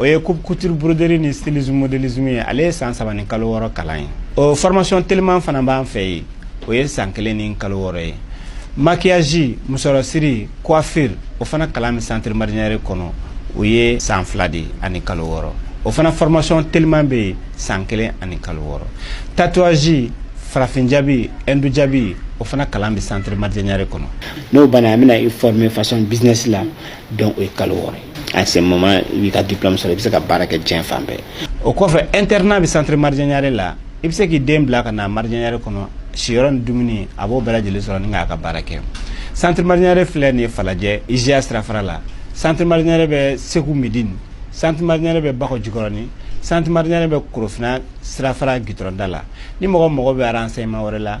o ye coupe couture broderie ni stylisme modélisme ye ale ye san saba ni kalo wɔɔrɔ kalan ye o formation teliman fana b'an fɛ yen o ye san kelen ni kalo wɔɔrɔ ye maquillage musɔrɔsiri coiffure o fana kalan bɛ centre marijɛ ɲare kɔnɔ o ye san fila de ani kalo wɔɔrɔ o fana formation teliman bɛ yen san kelen ani kalo wɔɔrɔ tatouage farafin jabi hindu jabi o fana kalan bɛ centre marijɛ ɲare kɔnɔ n'o banna an bɛna i former façon business la donc o ye kalo wɔɔrɔ ye à ce moment i b'i ka diplôme sɔrɔ i bɛ se ka baara kɛ diɲɛ fan bɛɛ o kɔfɛ internat bɛ centre marijɛ ɲare la i bɛ se k'i den bila ka na marijɛ ɲare kɔnɔ siyɔrɔ ni dumuni a b'o bɛɛ lajɛlen sɔrɔ ni k'a ka baara kɛ centre marijɛ ɲare filɛ nin ye falajɛ IJA sirafara la centre marijɛ ɲare bɛ segu medini centre marijɛ ɲare bɛ bakɔ jikɔrɔni centre marijɛ ɲare bɛ korofina sirafara gitɔrɔn da la ni mɔgɔ mago bɛ renseignement wɛrɛ la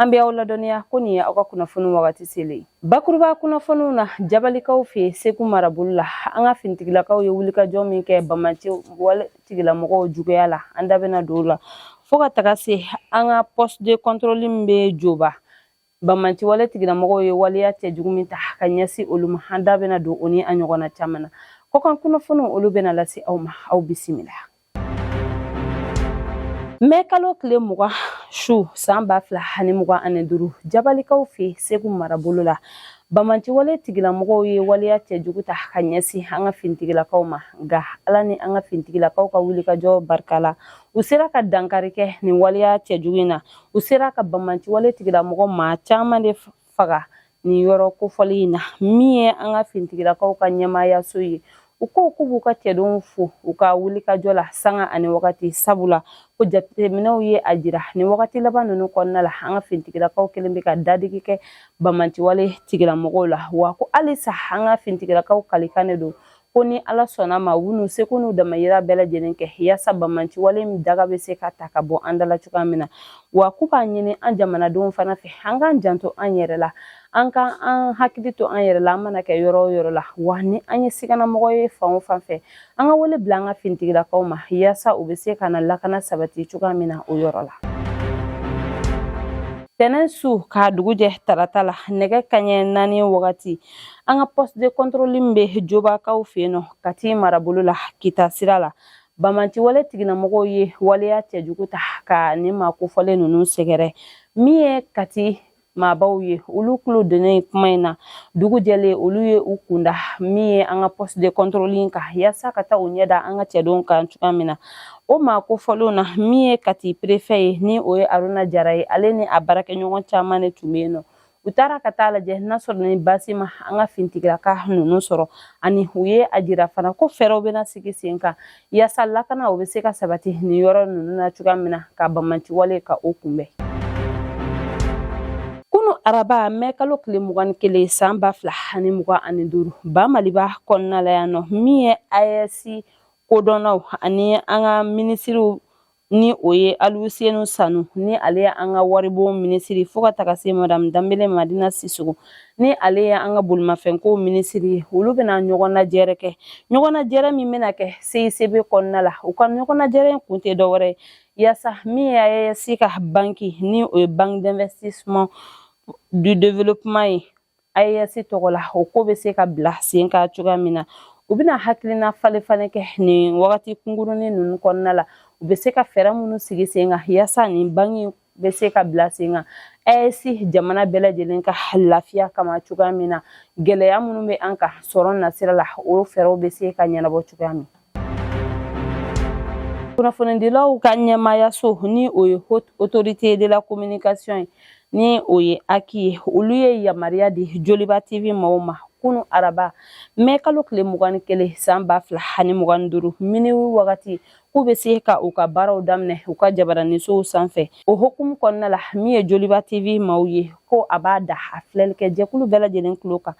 an bɛ aw ladɔnniya ko nin ye aw ka kunnafoni wagati selen ye bakuruba kunnafoniw na jabalikaw fɛ segu marabolo la an ka finitigilakaw ye wulikajɔ min kɛ banbaanci wale tigilamɔgɔw juguya la an da bɛna don o la fo ka taga se an ka poste de contrôle min bɛ joba banbaanci wale tigilamɔgɔw ye waleya cɛjugu min ta ka ɲɛsin olu ma an da bɛna don o ni a ɲɔgɔnna caman na kɔkan kunnafoniw olu bɛna lase aw ma aw bisimila mɛ kalo tile mugan su san ba fila ani mugan ani duru jabalikaw fɛ segu marabolo la banbaanci wale tigilamɔgɔw ye waleya cɛjugu ta ka ɲɛsin an ka finitigilakaw ma nka ala ni an ka finitigilakaw ka wulikajɔ barika la u sera ka dankari kɛ nin waleya cɛjugu in na u sera ka banbaanci wale tigilamɔgɔ maa caman de faga nin yɔrɔ kofɔlen in na min ye an ka finitigilakaw ka ɲɛmaayaso ye u ko k'u b'u ka cɛdenw fo u ka wulikajɔ la sanga ani wagati sabula ko jateminɛw ye a jira nin wagati laban ninnu kɔnɔna la an ka finitigilakaw kelen bɛ ka dadigi kɛ banbaanci wale tigilamɔgɔw la wa ko halisa an ka finitigilakaw kalikan de don ko ni ala sɔnna a ma u n'u seko n'u damayira bɛɛ lajɛlen kɛ yaasa banbaanci wale min daga bɛ se ka ta ka bɔ an da la cogoya min na wa k'u b'a ɲini an jamanadenw fana fɛ an k'an janto an yɛrɛ la an ka an hakili to an yɛrɛ la an mana kɛ yɔrɔ o yɔrɔ la wa ni an ye siganamɔgɔ ye fan o fan fɛ an ka wele bila an ka finitigilakaw ma yaasa u bɛ se ka na lakana sabati cogoya min na o yɔrɔ la tɛnɛn su k'a dugu jɛ tarata la nɛgɛ kaɲɛ naani wagati an ka poste de contrôle min bɛ jobakaw fɛ yen nɔ kati marabolo la kita sira la banbaanci wale tigilamɔgɔw ye waleya cɛjugu ta ka nin maa kofɔlen ninnu sɛgɛrɛ min ye kati maabaw ye olu tulo donnen kuma in na dugu jɛlen olu ye u kun da min ye an ka poste de contrôle in kan yaasa ka taa u ɲɛ da an ka cɛdenw kan cogoya min na o maa kofɔlenw na min ye kati préfet ye ni o ye aruna jara ye ale ni a baarakɛɲɔgɔn caman de tun bɛ yen nɔ u taara ka taa lajɛ n'a sɔrɔ ni baasi ma an ka fintigilaka ninnu sɔrɔ ani u ye a jira fana ko fɛɛrɛw bɛna sigi sen kan yaasa lakana o bɛ se ka sabati nin yɔrɔ ninnu na cogoya min na ka bamanciwale ka o kunbɛn kunu araba mɛ kalo tile mugan ni kelen san ba fila ani mugan ani duuru ba maliba kɔnɔna la yan nɔ min ye AES kodɔnnaw ani an ka minisiriw ni o ye alusenu sanu ni ale ye an ka waribon minisiri fo ka taga se madamu danbele madina sisogo ni ale ye an ka bolimafɛnko minisiri ye olu bɛna ɲɔgɔn najɛrɛ kɛ ɲɔgɔn najɛrɛ min bɛna kɛ CICB kɔnɔna la u ka ɲɔgɔn najɛrɛ in kun tɛ dɔwɛrɛ ye yaasa min ye AES ka banki ni o ye banque d'investissement du développement ye AES tɔgɔ la o ko bɛ se ka bila sen kan cogoya min na u bɛna hakilina falen falen kɛ nin wagati kunkurunin ninnu kɔnɔna la u bɛ se ka fɛɛrɛ minnu sigi sen kan yaasa nin banki bɛ se ka bila sen kan AES jamana bɛɛ lajɛlen ka lafiya kama cogoya min na gɛlɛya minnu bɛ an kan sɔrɔ nasira la o fɛɛrɛw bɛ se ka ɲɛnabɔ cogoya min na Kunnafonidilaw ka ɲɛmaayaso ni o ye Haute Autorité de la Communication ye ni o ye HAC ye olu ye yamaruya di Joliba TV maaw ma kunu araba mɛ kalo tile mugan ni kelen san ba fila ani mugan ni duuru miniwi wagati k'u bɛ se ka u ka baaraw daminɛ u ka jabaranisow sanfɛ o hukumu kɔnɔna la min ye Joliba TV maaw ye ko a b'a da a filɛlikɛ jɛkulu bɛɛ lajɛlen tulo kan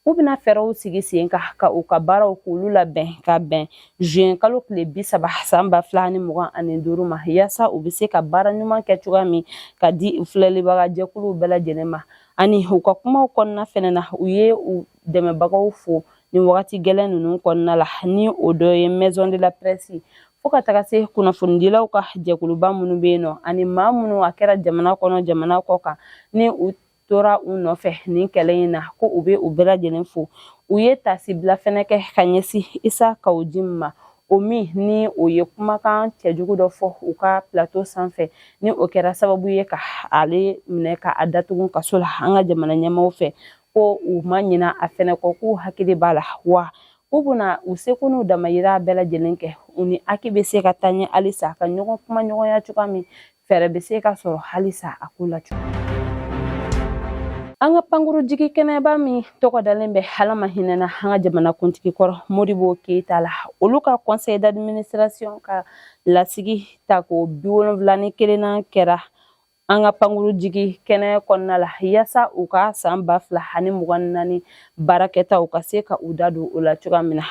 u bɛna fɛɛrɛw sigi sen kan ka u ka baaraw k'olu labɛn ka bɛn zuwɛn kalo tile bi saba san ba fila ni mugan ani duuru ma yaasa u bɛ se ka baara ɲuman kɛ cogoya min ka di u filɛlibaga jɛkuluw bɛɛ lajɛlen ma ani u ka kumaw kɔnɔna fɛnɛ na u ye u dɛmɛbagaw fo nin wagati gɛlɛn ninnu kɔnɔna la ni o dɔ ye maison de la presse fo ka taga se kunnafonidilaw ka jɛkuluba minnu bɛ yen nɔ ani maa minnu a kɛra jamana kɔnɔ jamana kɔ kan ni u tora u nɔfɛ nin kɛlɛ in na ko u bɛ u bɛɛ lajɛlen fo u ye taasibila fɛnɛ kɛ ka ɲɛsin isa kawu jim ma o min ni o ye kumakan cɛjugu dɔ fɔ u ka plato sanfɛ ni o kɛra sababu ye ka ale minɛ ka a datugu kaso la an ka jamana ɲɛmaaw fɛ ko u ma ɲina a fɛnɛ kɔ k'u hakili b'a la wa u bɛna u seko n'u damayira bɛɛ lajɛlen kɛ u ni HAC bɛ se ka taa ɲɛ halisa ka ɲɔgɔn kuma ɲɔgɔnya cogoya min fɛɛrɛ bɛ se ka sɔrɔ halisa a ko la cogo an ka pankurujigi kɛnɛba min tɔgɔ dalen bɛ ala ma hinɛna an ka jamanakuntigi kɔrɔ modibo keyita la olu ka conseil d'administration ka lasigi tako bi wolonfila ni kelennan kɛra an ka pankuru jigi kɛnɛ kɔnɔna la yaasa u ka san ba fila ani mugan naani baarakɛtaw ka se ka u da don o la cogoya min na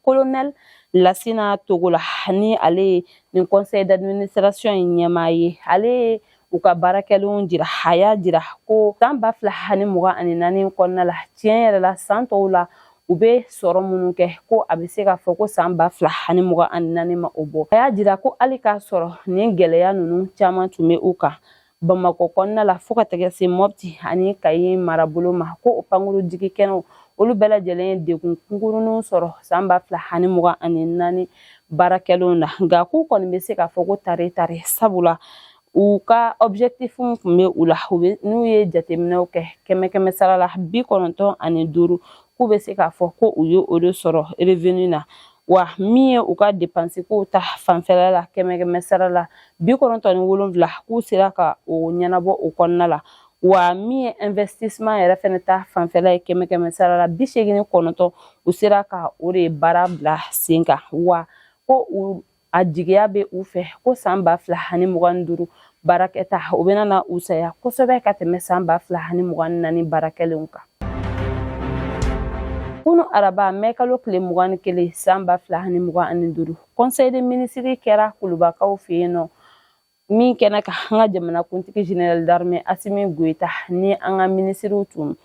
kolonɛli lasina togola ni ale ye nin conseil d'administration in ɲɛmaa ye ale ye u ka baarakɛlenw jira a y'a jira ko san ba fila ani mugan ani naani kɔnɔna la tiɲɛ yɛrɛ la san tɔw la u bɛ sɔrɔ minnu kɛ ko a bɛ se k'a fɔ ko san ba fila ani mugan ani naani ma o bɔ a y'a jira ko hali k'a sɔrɔ nin gɛlɛya ninnu caman tun bɛ u kan bamakɔ kɔnɔna la fɔɔ ka tɛgɛ se mɔpti ani kayi marabolo ma ko o pankuru jigi kɛnɛw olu bɛɛ lajɛlen ye degun kunkurunw sɔrɔ san ba fila ani mugan ani naani baarakɛlenw na nka k'u kɔni bɛ se k'a fɔ ko tare tare sabula u ka objectif tun bɛ u la n'u ye jateminɛw kɛ kɛmɛ kɛmɛ sara la bi kɔnɔntɔn ani duuru k'u bɛ se k'a fɔ ko u ye o de sɔrɔ revenu na wa min ye u ka depansi kow ta fanfɛla la kɛmɛkɛmɛ sara la bi kɔnɔntɔn ni wolonwula k'u sera ka o ɲɛnabɔ o kɔnɔna la wa min ye investissement yɛrɛ fɛnɛ ta fanfɛla ye kɛmɛ kɛmɛ sara la bi seegin ni kɔnɔntɔn u sera ka o de baara bila sen kan wa ko a jigiya bɛ u fɛ ko san ba fila ani mugan ni duuru baarakɛtaw bɛna na wusaya kosɛbɛ ka tɛmɛ san ba fila ani mugan ni naani baarakɛlenw kan kunu araba mɛ kalo tile mugan ni kelen san ba fila ani mugan ani duuru conseil des ministres kɛra kulubakaw fɛ yen nɔ min kɛnɛ kan an ka jamanakuntigi général d'armée asimi goyita ni an ka minisiriw tun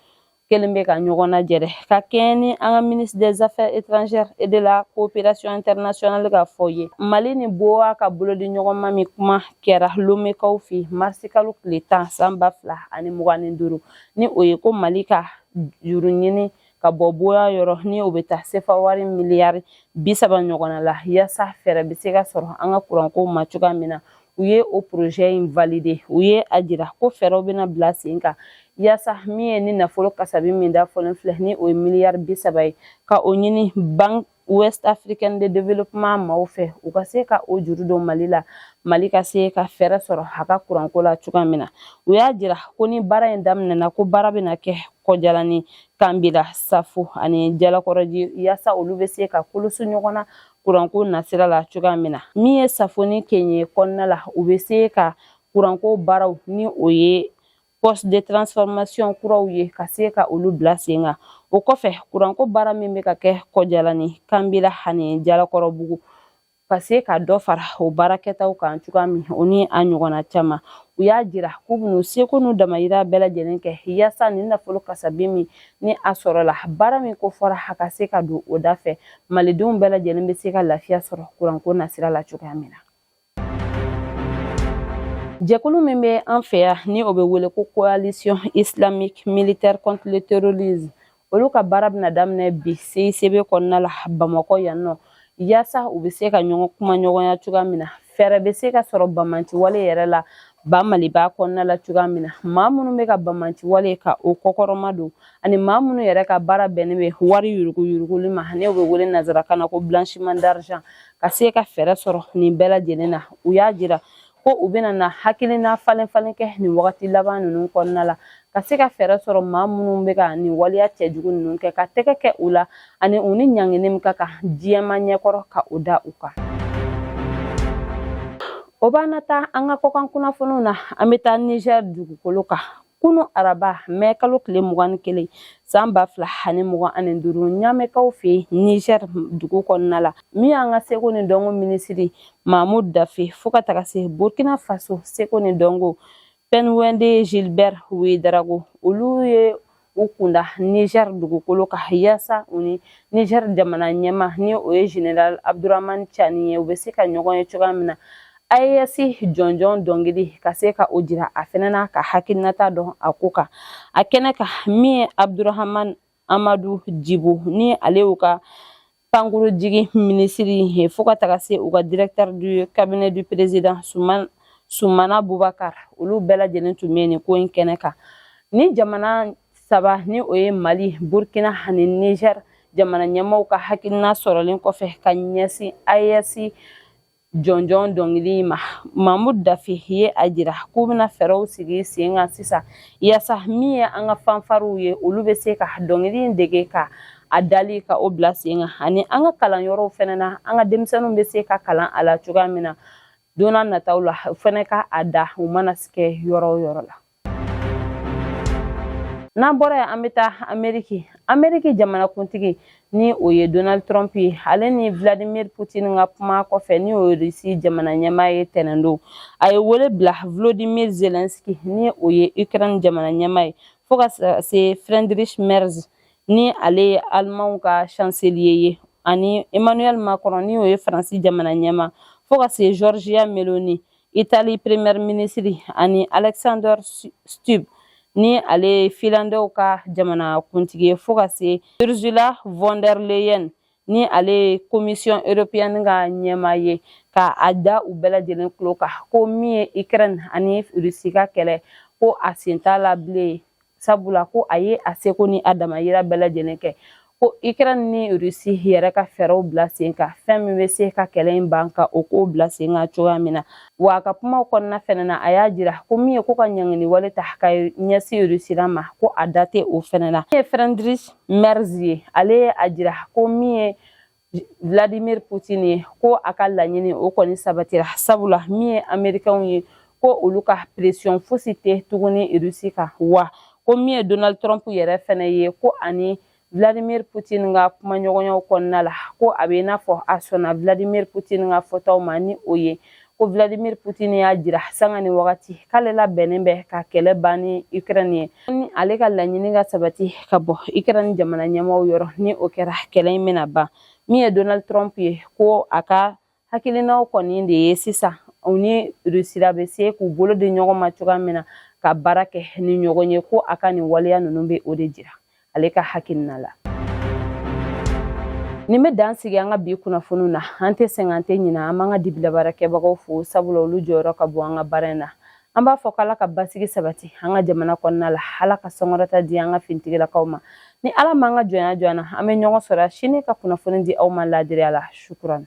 kɛlen bɛ ka ɲɔgɔn lajɛrɛ ka kɛɲɛ ni an ka ministre des affaires étrangères et de la coopération internationale ka fɔ ye mali ni bowa ka bolodi ɲɔgɔnma min kuma kɛra lomekaw fɛ marisikalo tile tan san ba fila ani mugan ni duuru ni o ye ko mali ka juru ɲini ka bɔ bowa yɔrɔ ni o bɛ taa sefa wari miliyari bi saba ɲɔgɔnna la yaasa fɛɛrɛ bɛ se ka sɔrɔ an ka kuranko ma cogoya min na u ye o projet in valider u ye a jira ko fɛɛrɛw bɛna bila sen kan yaasa min ye nin nafolo kasabi min da fɔlen filɛ ni o ye miliyari bi saba ye ka o ɲini banque ouest africaine de développement maaw fɛ u ka se ka o juru don mali la mali ka se ka fɛɛrɛ sɔrɔ a ka kuranko la cogoya min na u y'a jira ko ni baara in daminɛna ko baara bɛna kɛ kɔjalani kanbila safo ani jalakɔrɔji yaasa olu bɛ se ka koloso ɲɔgɔn na kuranko nasira la cogoya min na min ye safo ni kenye kɔnɔna la u bɛ se ka kuranko baaraw ni o ye poste de transformation kuraw ye ka se ka olu bila sen kan o kɔfɛ kuranko baara min bɛ ka kɛ kɔjalani kanbila ani jalakɔrɔbugu ka se ka dɔ fara o baarakɛtaw kan cogoya min o ni a ɲɔgɔnna caman u y'a jira k'u bɛn'u seko n'u damayira bɛɛ lajɛlen kɛ yaasa nin nafolo kasabi min ni a sɔrɔla baara min ko fɔra a ka se ka don o da fɛ malidenw bɛɛ lajɛlen bɛ se ka lafiya sɔrɔ kuranko nasira la cogoya min na jɛkulu min bɛ an fɛ yan ni o bɛ wele ko coalition islamique militaire contre le terrorisme olu ka baara bɛna daminɛ bi CICB kɔnɔna la Bamakɔ yan nɔ yaasa u bɛ se ka ɲɔgɔn kumaɲɔgɔnya cogoya min na fɛɛrɛ bɛ se ka sɔrɔ bamanciwale yɛrɛ la ba maliba kɔnɔna la cogoya min na maa minnu bɛ ka bamanci wale ka o kɔkɔrɔma don ani maa minnu yɛrɛ ka baara bɛnnen bɛ wari yuruguyuruguli ma ni o bɛ wele nanzarakan na ko blanchiment d'argent ka se ka fɛɛrɛ sɔrɔ nin bɛɛ lajɛlen na u y'a jira ko u bɛna na hakilina falenfalen kɛ nin wagati laban ninnu kɔnɔna la ka se ka fɛɛrɛ sɔrɔ maa minnu bɛ ka nin waleya cɛjugu ninnu kɛ ka tɛgɛ kɛ u la ani u ni ɲangini min ka kan diɲɛmaa ɲɛkɔrɔ ka o da u kan o b'an na taa an ka kɔkan kunnafoniw na an bɛ taa niger dugukolo kan kunu araba mɛ kalo tile mugan ni kelen san ba fila ani mugan ani duuru ɲamɛ kan fɛ niger dugu kɔnɔna la min y'an ka seko ni dɔnko minisiri mamou daffé fo ka taga se burkina faso seko ni dɔnko pingdwendé gilbert ouédraogo olu ye u kunda niger dugukolo kan yaasa u ni niger jamana ɲɛmaa ni o ye general abdourahamane tiani ye u bɛ se ka ɲɔgɔn ye cogoya min na AES jɔnjɔn dɔnkili ka se ka o jira a fɛnɛ na ka hakilinata dɔn a ko kan a kɛnɛ kan min ye abdourahamane amadou djibo ni ale y'u ka Pankurun jigin minisiri ye fo ka taga se u ka directeur du cabinet du président Soumana Boubacar olu bɛɛ lajɛlen tun bɛ nin ko in kɛnɛ kan ni jamana saba ni o ye Mali Burkina ani Niger jamana ɲɛmaaw ka hakilina sɔrɔlen kɔfɛ ka ɲɛsin AES jɔnjɔn dɔnkili ma mamou daffé ye a jira k'u bɛna fɛɛrɛw sigi sen kan sisan yaasa min ye an ka fanfariw ye olu bɛ se ka dɔnkili in dege ka a dali ka o bila sen kan ani an ka kalanyɔrɔw fɛnɛ na an ka denmisɛnninw bɛ se ka kalan a la cogoya min na don nataw la u fɛnɛ ka a da u mana kɛ yɔrɔ o yɔrɔ la n'an bɔra yen an bɛ taa ameriki ameriki jamanakuntigi ni o ye donald trump ye ale ni vladimir putin ka kuma kɔfɛ ni o rusi jamana ɲɛmaa ye tɛnɛndon a ye wele bila volodymyr zelensky ni o ye ukraine jamana ɲɛmaa ye fo ka se friedrich merz ni ale ye alimanw ka chancelier ye ani emmanuel macron ni o ye faransi jamana ɲɛmaa fo ka se giorgia meloni Itali premier minisiri ani Alexander Stubb ni ale ye filandɛw ka jamana kuntigi ye fo ka se Ursula von der Leyen ni ale ye commission européenne ka ɲɛmaa ye ka a da u bɛɛ lajɛlen tulo kan ko min ye Ukraine ani Russie ka kɛlɛ ko a sen t'a la bilen sabula ko a ye a seko ni a damayira bɛɛ lajɛlen kɛ ko ukraine ni rusi yɛrɛ ka fɛɛrɛw bila sen kan fɛn min bɛ se ka kɛlɛ in ban ka o kow bila sen kan cogoya min na wa a ka kumaw kɔnɔna fɛnɛ na a y'a jira ko min ye ko ka ɲangini wale ta ka ɲɛsin rusila ma ko a da tɛ o fɛnɛ na min ye friedrich merz ye ale ye a jira ko min ye Vladimir Putin ye ko a ka laɲini o kɔni sabatira sabula min ye amerikɛnw ye ko olu ka presiyɔn fosi tɛ tuguni rusi kan wa ko min ye donald trump yɛrɛ fɛnɛ ye ko a ni vladimir putin ka kumaɲɔgɔnyaw kɔnɔna la ko a bɛ i n'a fɔ a sɔnna vladimir putin ka fɔtaw ma ni o ye ko Vladimir Putin y'a jira sanga ni wagati k'ale labɛnnen bɛ ka kɛlɛ ban ni Ukraine ye ni ale ka laɲini ka sabati ka bɔ Ukraine jamana ɲɛmɔgɔw yɔrɔ ni o kɛra kɛlɛ in bɛna ban min ye Donald Trump ye ko a ka hakilinaw kɔni de ye sisan u ni Rusira bɛ se k'u bolo di ɲɔgɔn ma cogoya min na ka baara kɛ ni ɲɔgɔn ye ko a ka nin waleya ninnu bɛ o de jira ale ka hakilina la nin bɛ dan sigi an ka bi kunnafoniw na an tɛ sɛgɛn an tɛ ɲina an b'an ka dibilabaarakɛbagaw fo sabula olu jɔyɔrɔ ka bon an ka baara in na an b'a fɔ k'ala ka basigi sabati an ka jamana kɔnɔna la ala ka sankɔrɔta di an ka finitigilakaw ma ni ala m'an ka jɔnya jɔ an na an bɛ ɲɔgɔn sɔrɔ sini ka kunnafoni di aw ma laadiriya la shukran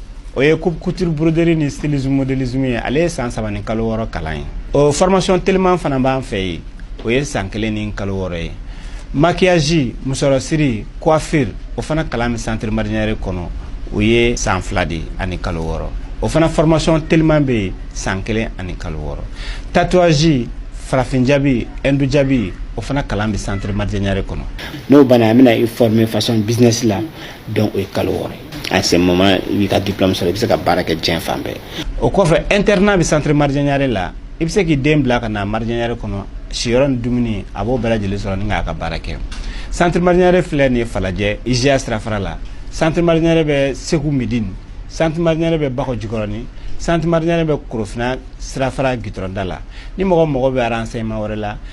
o ye coupe couture broderie ni stylisme modélisme ye ale ye san saba ni kalo wɔɔrɔ kalan ye o formation teliman fana b'an fɛ yen o ye san kelen ni kalo wɔɔrɔ ye maquillage musɔrɔsiri coiffure o fana kalan bɛ centre marjanyare kɔnɔ o ye san fila de ani kalo wɔɔrɔ o fana formation teliman bɛ yen san kelen ani kalo wɔɔrɔ tatouage farafin jabi hindu jabi o fana kalan bɛ centre marjanyare kɔnɔ n'o banna an bɛna i former façon business la donc o ye kalo wɔɔrɔ ye à ce moment i b'i ka diplôme sɔrɔ i bɛ se ka baara kɛ diɲɛ fan bɛɛ o kɔfɛ internat bɛ centre marjanyare la i bɛ se k'i den bila ka na marjanyare kɔnɔ siyɔrɔ ni dumuni a b'o bɛɛ lajɛlen sɔrɔ ni k'a ka baara kɛ centre marjanyare filɛ nin ye falajɛ IJA sirafara la centre marjanyare bɛ segu midini centre marjanyare bɛ bakɔ jikɔrɔni centre marjanyare bɛ korofina sirafara gitɔrɔnda la ni mɔgɔ mago bɛ renseignement wɛrɛ la